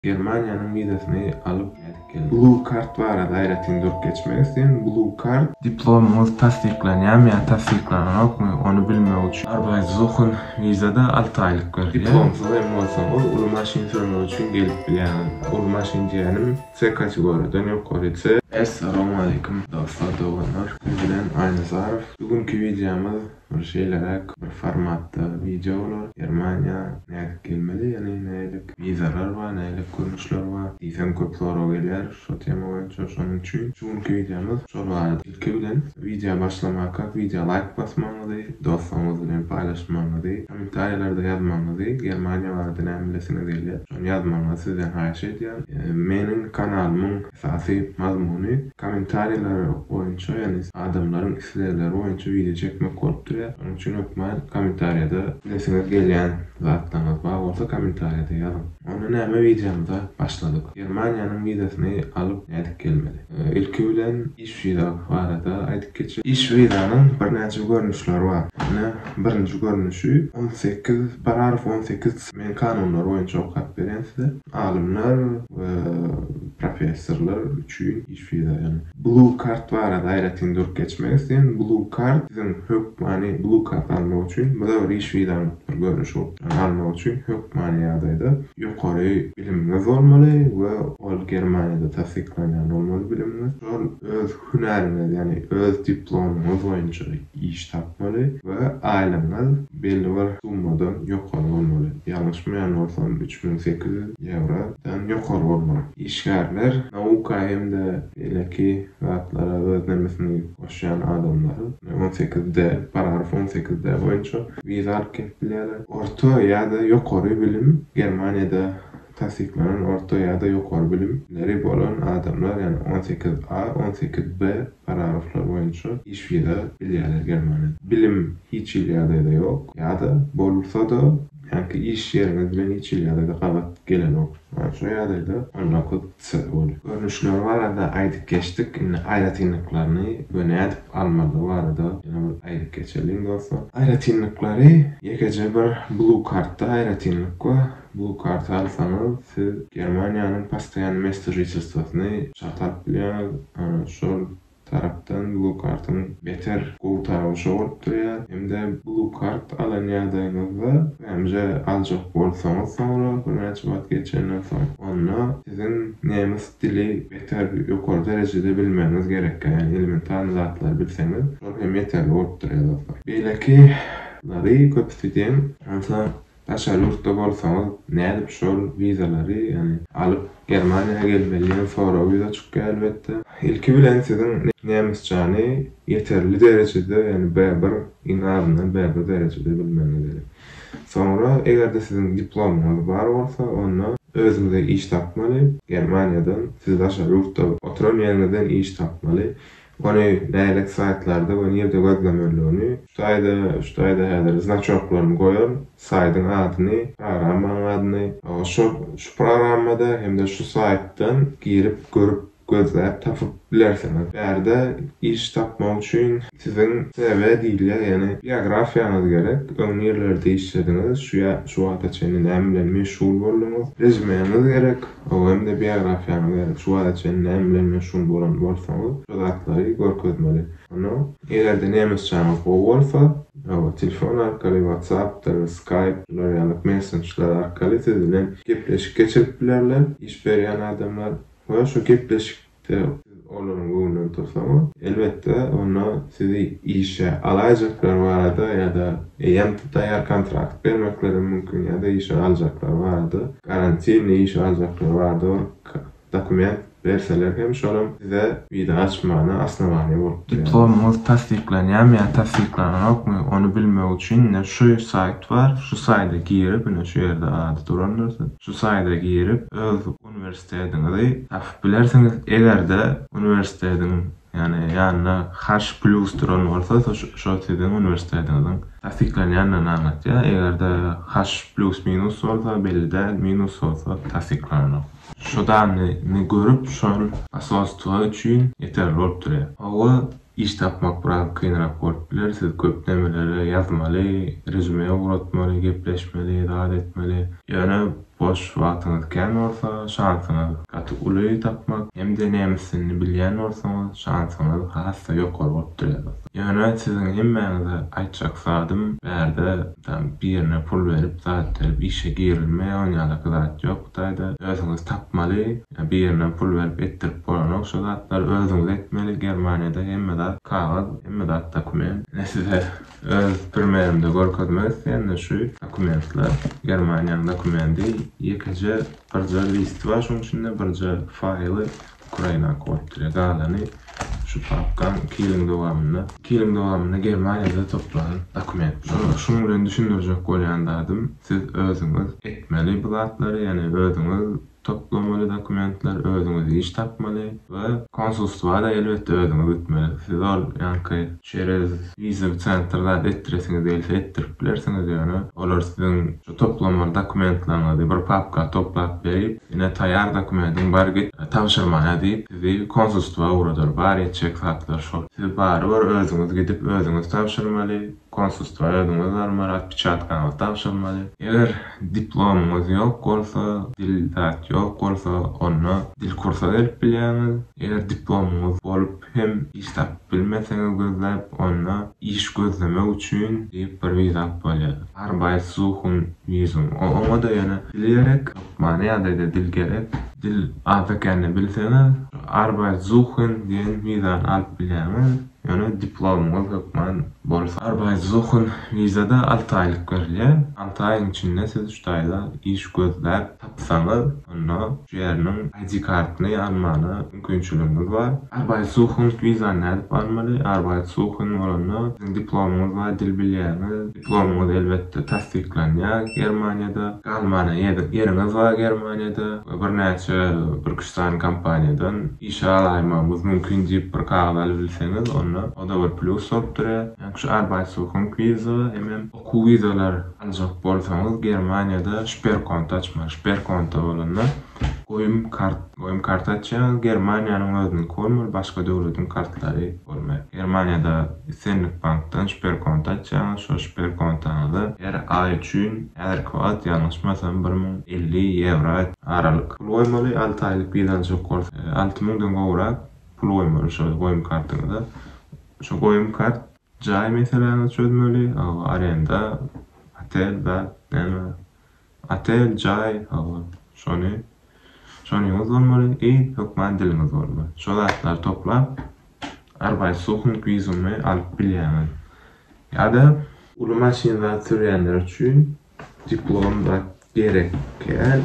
Germaniýanyň wizasyny alyp gaýdyp geldim. Blue Card barada aýratyn durup geçmek isleýän. Blue Card. Diplomyňyz tassyklanýamy ýa tassyklanokmy, ony bilmek üçin. Arbeitssuchen wiza-da alty aýlyk berilýär. Diplomsyz hem bolsaňyz, uly maşyn sürmek üçin gelip bilýäňiz. Uly maşyn diýýänim, C kategoriýadan ýokary, C. Essalamu aleýkum, dostlar, doganlar! Siz bilen Aýnazarow. Bu günki wideomyz Ol şeýleräk bir formatda wideo bolar. Germaniýa nädip gelmeli, ýagny nädip wizalar bar, nädip görnüşler bar diýseň köp sorag gelýär şo tema boýunça. Şonuň üçin şu günki wideomyz şol barada. Ilki bilen wideo başlamakak wideo laýk basmagyňyzy, dostlaryňyz bilen paýlaşmagyňyzy, kommentariýalarda ýazmagyňyzy, Germaniýa barada näme bilesiňiz gelýär, şony ýazmagyňyzy sizden haýyş edýän. Meniň kanalymyň Esasy mazmuny kommentariýalar boýunça, ýagny adamlaryň islegleri boýunça wideo çekmek bolup durýar. Şonuň üçin hökman kommentariýada edesiňiz gelýän zatlaryňyz bar bolsa kommentariýada ýazyň. Onda näme wideomyza başladyk. Germaniýanyň wizasyny alyp nädip gelmeli? Ilki bilen iş wiza barada aýdyp geçeli. Iş wizanyň birnäçe görnüşleri bar. Ine birinji görnüşi on sekiz, paragraf on sekiz Men kanunlar boýunça okap berýän size. Alymlar we professorlar üçin iş wiza ýagny. Blue Card barada aýratyn durup geçmek isleýän. Blue Card siziň hökmany Blue Card almak üçin bu da bir iş wizanyň bir görnüşi bolup durýar. Almak üçin hökmany ýagdaýda ýokary bilimiňiz bolmaly we ol Germaniýada tassyklanýan bolmaly bilimiňiz. Şol öz hünäriňiz, ýagny öz diplomyňyz boýunça iş tapmaly we aýlygyňyz belli bir summadan ýokary bolmaly. Ýalňyşmaýan bolsam, üç müň sekiz ýüz ýewrodan ýokary bolmaly. Işgärler nauka hem-de beýleki zatlara öz nemesini goşýan adamlar on sekiz D, paragraf on sekiz D boýunça wiza alyp gelip bilýärler. Orta ýa-da ýokary bilim Germaniýada tassyklanan orta ýa-da ýokary bilim leri bolan adamlar, ýagny on sekiz A, on sekiz B paragraflar boýunça iş viza bilýärler Germaniýada. Bilim hiç hili ýagdaýda ýok ýa-da bolsa-da, ýanki iş ýeriňiz bilen hiç hili ýagdaýda gabat gelenok. Ýagny şu ýagdaýda on dokuz C bolýar. Görnüşleri barada aýdyp geçdik, indi aýratynlyklaryny we nädip almalydygy barada ýene bir aýdyp geçeliň dostlar. Aýratynlyklary ýekeje bir Blue Card-da aýratynlyk we Bu karty alsaňyz, siz Germaniýanyň postoýanny mester žitelstwosyny çalt alyp bilýäňiz. Şol tarapdan Blue Card-yň beter gowy tarapy şo bolup durýar. Hem-de Blue Card alan ýagdaýyňyzda, BMJ aljak bolsaňyz soňra, birnäçe wagt geçenden soň, onda siziň nemes dili beter ýokary derejede bilmegiňiz gerek. Ýagny elementarny zatlary bilseňiz, şol hem ýeterli bolup durýar dostlar. Beýleki lary köpüsi diýen, onsoň Daşary ýurtda bolsaňyz nädip şol wizalary ýagny alyp Germaniýa gelmeli diýen sorag ýüze çykýar elbetde. Ilki bilen siziň nemesçäni ýeterli derejede ýagny B bir iň azyndan B bir derejede bilmegiňiz gerek. Soňra egerde siziň diplomyňyz bar bolsa onda özüňize iş tapmaly Germaniýadan siz daşary ýurtda oturan ýeriňizden iş tapmaly Ony beýleki saýtlarda we nirde gözlemeligini. Saýda şu saýda häzir znaçoklaryny goýan saýdyň adyny, programmanyň adyny, şo şu programmada hem-de şu saýtdan girip görüp gözläp tapyp bilersiňiz. Bärde iş tapmak üçin siziň CV diýilýär, ýagny biografiýaňyz gerek, öň nirelerde işlediňiz, şu şu wagta çenli näme bilen meşgul bolduňyz, rezumeňiz gerek. Öňem-de biografiýaňyzda şu wagta çenli näme bilen meşgul bolan bolsaňyz, şo zatlary görkezmeli. Onsoň, eger-de nemesçäňiz gowy bolsa, hawa, telefon arkaly, WhatsApp-dyr, Skype, şular ýaly messenjler arkaly siz bilen gepleşik geçirip bilerler iş berýän adamlar we şo gepleşik Siz olaryň göwnünden tursaňyz, elbetde, onda sizi işe alaýjaklar barada ýa-da eýýäm taýýar kontrakt bermeklerem mümkin ýa-da işe aljaklar barada, garantini işe aljaklar barada bir dokument berseler hem şolam size wiza açmana osnowaniýa bolup durýar. Diplomyňyz tassyklanýarmy ýa tassyklananokmy, ony bilmek üçin ine şu saýt bar, şu saýda girip, ine şu ýerde ady durandyr siziň, şu saýda girip öz Uniwersitetiňizi tapyp bilersiňiz. Eger-de uniwersitetiň, ýagny ýanyna Harsh Plus duran bolsa, şo siziň uniwersitetiňiziň tassyklanýandygyny aňlatýar. Eger-de Harsh Plus minus bolsa, belli däl, minus bolsa tassyklananok. Şu danyny görüp, şol basostygy üçin ýeterli bolup durýar. Hawa, Iş tapmak biraz kynrak bolup biler, siz köp nämelere ýazmaly, rezüme ugratmaly, gepleşmeli, zat etmeli. Ýöne boş wagtyňyz kän bolsa, şansyňyz gaty uly tapmak, hem-de nemes dilini bilýän bolsaňyz, şansyňyz has-da ýokary bolup durýar dostlar. Ýöne siziň hemmäňize aýtjak zadym, bärde tam birine pul berip, zat berip işe girilmeýär, ony ýaly zat ýok Hytaýda, özüňiz tapmaly, Birinden pul berip etdirip bolanok şu zatlary özüňiz etmeli germaniýada hemme zat kagyz hemme zat dokument ine size öz primerimde görkezmek isleýände şu dokumentler germaniýanyň dokumendi ýekeje birje listi bar şuň içinde birje faýly ukrainak bolup durýar galany şu papkaň iki ýylyň dowamynda iki ýylyň dowamynda germaniýada toplan dokumentler şuň bilen düşündirjek bolýan zadym siz özüňiz etmeli bu zatlary ýagny özüňiz Toplamaly dokumentler özüňiz iş tapmaly we konsulstwada elbetde özüňiz gitmeli. Siz ol ýaňky çerez wizaly centr zat etdiresiňiz gelse etdirip bilersiňiz ýöne olar siziň şu toplamaly dokumentlaryňyzy bir papka toplap berip ine taýar dokumediň bar git tabşyrmaýa diýip sizi konsulstwa ugradyr bar etjek zatlar şol. Siz barybir özüňiz gidip özüňiz tabşyrmaly Konsulstwa özüňiz barmaly, otpečatkaňyz tabşyrmaly. Eger diplomyňyz ýok bolsa, dil zat ýok bolsa, onda dil kursa gelip bilýäňiz. Eger diplomyňyz bolup hem iş tapyp bilmeseňiz gözläp, onda iş gözlemek üçin diýip bir wizat bolýar. Arbeitssuchung Visum. Oňa-da ýöne dil gerek. Hökmany ýagdaýda dil gerek. Dil azda-kände bilseňiz, Arbeitssuchung diýen wizany alyp bilýäňiz. Ýöne diplomyňyz hökman bolsa. Arbeitsuchen wizada alty aýlyk berilýär. Alty aýyň içinde siz şu taýda iş gözläp tapsaňyz, onda şu ýeriniň ID kartyny almana mümkinçiligiňiz bar. Arbeitsuchen wizany nädip almaly? Arbeitsuchen bolanda siziň diplomyňyz bar, dil bilýäňiz. Diplomyňyz elbetde tassyklanýar Germaniýada. Galmana ýeriňiz bar Germaniýada we birnäçe bir-iki üç sany kompaniýadan Işe alaýmagymyz mümkin diýip bir kagyz alybilseňiz onda oda bir plýus bolup durýa. Ýaňky şu Arbeitssuchung wiza hemem okuw wizalar aljak bolsaňyz Germaniýada Sperkonto açmaly. Sperkonto bolanda goýum kart, goýum karty açýaňyz Germaniýanyň özüniňki bolmaly başga döwletiň kartlary bolmaýar. Germaniýada islendik bankdan Sperkonto açýaňyz şo Sperkontaňyza her aý üçin häzirki wagt ýalňyşmasam bir müň elli ýewro Aralyk. Pul goýmaly, alty aýlyk wizanyz ýok bolsa, alty müňden gowrak pul goýmaly şo goýum kartyňyza. Şo goýum kart jaý meseläňizi çözmeli, hawa, arenda, otel, zat, näme, otel, jaý, hawa, şony, şonyňyz bolmaly i hökman diliňiz bolmaly. Şo zatlary toplap, Arbeitssuchung wizumy alyp bilýäňiz. Ýa-da. Uly maşyn zat sürýänler üçin Diplomda gerek kän.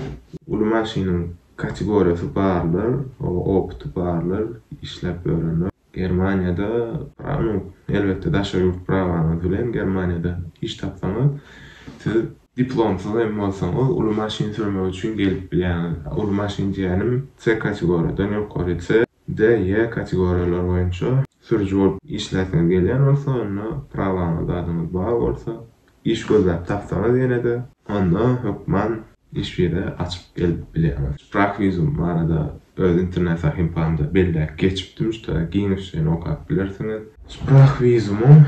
Uly maşynyň kategoriýasy barlar, oňa opyty barlar, işläp ýörenler. Germaniýada prawa, elbetde daşary ýurt prawaňyz bilen Germaniýada iş tapsaňyz siz diplomsyz hem bolsaňyz uly maşyn sürmek üçin gelip bilýäňiz. Uly maşyn diýýänim C kategoriýadan ýokary C. D, E kategoriýalary boýunça sürüji bolup işläsiňiz gelýän bolsa, onda prawaňyz, adyňyz bar bolsa, iş gözläp tapsaňyz ýene-de, onda hökman iş wiza açyp gelip bilýäňiz. Sprachvisum barada öz internet sahypamda belläp geçipdim, şuta giňişleýin okap bilersiňiz. Sprachwisumyň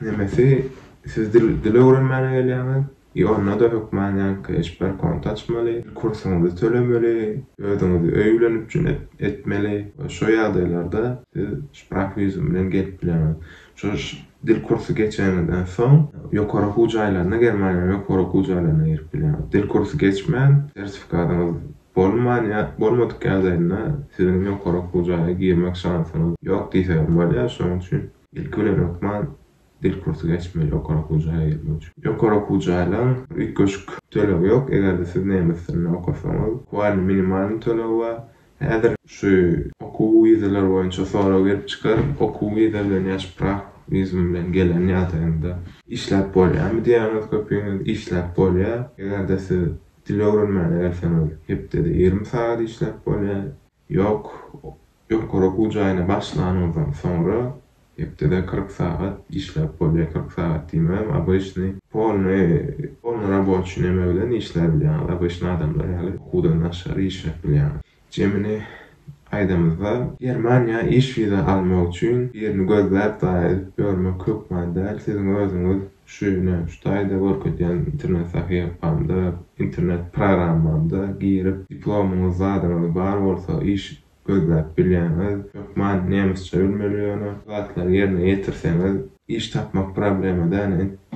nemesi, siz dil öwrenmäne gelýäňiz, Ýonda-da hökman ýaňky eşber kont açmaly, kursyňyzy tölemeli, özüňizi öýülenip üçin etmeli. Şo ýagdaýlarda siz şprahwizum bilen gelip bilerňiz. Şo dil kursy geçeniňizden soň ýokary okuw jaýlaryna, Germaniýanyň ýokary okuw jaýlaryna girip bilerňiz. Dil kursy geçmän, sertifikatyňyz bolman ýa bolmadyk ýagdaýynda siziň ýokary okuw jaýa girmek şansyňyz ýok diýseň hem bolýar. Şonuň üçin ilki bilen hökman Dil kursy geçmeli ýokary okuw jaýa girmek üçin. Ýokary okuw jaýlaň üýtgeşik tölegi ýok, eger-de siz nemes dilinde okasaňyz. Kuwany minimalny tölegi bar. Häzir şu okuw wizalar boýunça sorag gelip çykar, okuw wiza bilen ýa şprah wizum bilen gelen ýagdaýyňda işläp bolýamy diýýäňiz köpüňiz, işläp bolýar. Eger-de siz dil öwrenmäne gelseňiz hepdede ýigrimi sagat işläp bolýar. Ýok, ýokary okuw jaýyna başlanyňyzdan soňra hepdede kyrk sagat işläp bolýar, kyrk sagat diýmegem obyçnyý, polnyý, polny raboçi neme bilen işlär bilýäňiz, obyçnyý adamlar ýaly okuwdan daşary işläp bilýäňiz. Jemini aýdamyzda, Germaniýa iş wiza almak üçin birini gözläp daýa edip ýörmek hökman däl, siziň özüňiz Şu ýyl-a, şu taýda görkezýän internet sahypamda, internet programmamda girip, diplomyňyz, zadyňyz bar bolsa, iş gözläp bilýäňiz. Hökman nemesçe bilmeli ýöne. Şu zatlary ýerine ýetirseňiz, iş tapmak problema däl.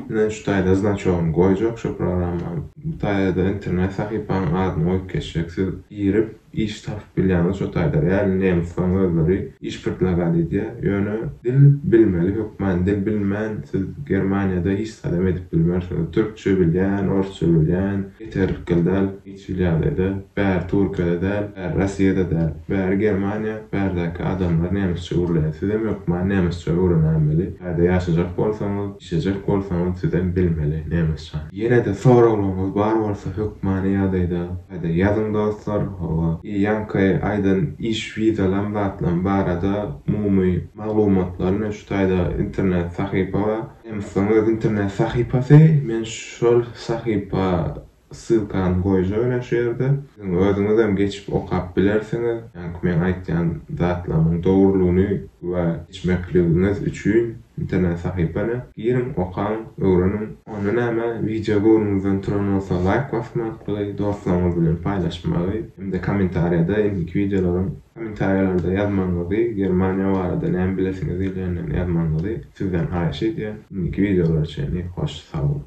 Indi şu taýda znaçogyny goýjak şu programmanyň. Bu taýda-da internet sahypanyň adyny goýup geçjek. Siz girip, Iş tapyp bilýäňiz şo taýda. Ýaly nemisleň özleri iş pyrtlagat edýär. Ýöne dil bilmeli hökman. Dil bilmän siz Germaniýada hiç zadam edip bilmersiňiz. Türkçe bilýän, orsça bilýän ýeterlikgil däl. Hiç hili ýagdaýda. Bäri Türkiýede däl, bäri Rossiýada däl. Bäri Germaniýa, bärdäki adamlar nemisçe gürleýär. Sizem hökman nemisçe öwrenämeli. Taýda ýaşajak bolsaňyz. Şejek bolsaňyz sizem bilmeli nemesçe. Ýenede soraglaryňyz bar bolsa hökmany ýagdaýda gaýda ýazyň dostlar howa i ýaňky aýdan iş wizalam zatlam barada umumy maglumatlar men şu taýda internet sahypa bar nemysleň öz internet sahypasy men şol sahypa Ssylkany goýjaberýän şu ýerde. Siziň özüňizem geçip okap bilersiňiz. Ýaňky meň aýtýan zatlarymyň dogrulygyny güwä geçmekligiňiz üçin internet sahypana giriň, okaň, öwreniň. Onda näme, wideo göwnüňizden turan bolsa laýk basmaklygy, dostlaryňyz bilen paýlaşmagy hem-de kommentariýada indiki wideolaryň kommentariýalarda ýazmagyňyzy, Germaniýa barada näme bilesiňiz diýilende ýazmagyňyzy sizden haýyş edýän. Indiki wideolara çenli hoş sag boluň.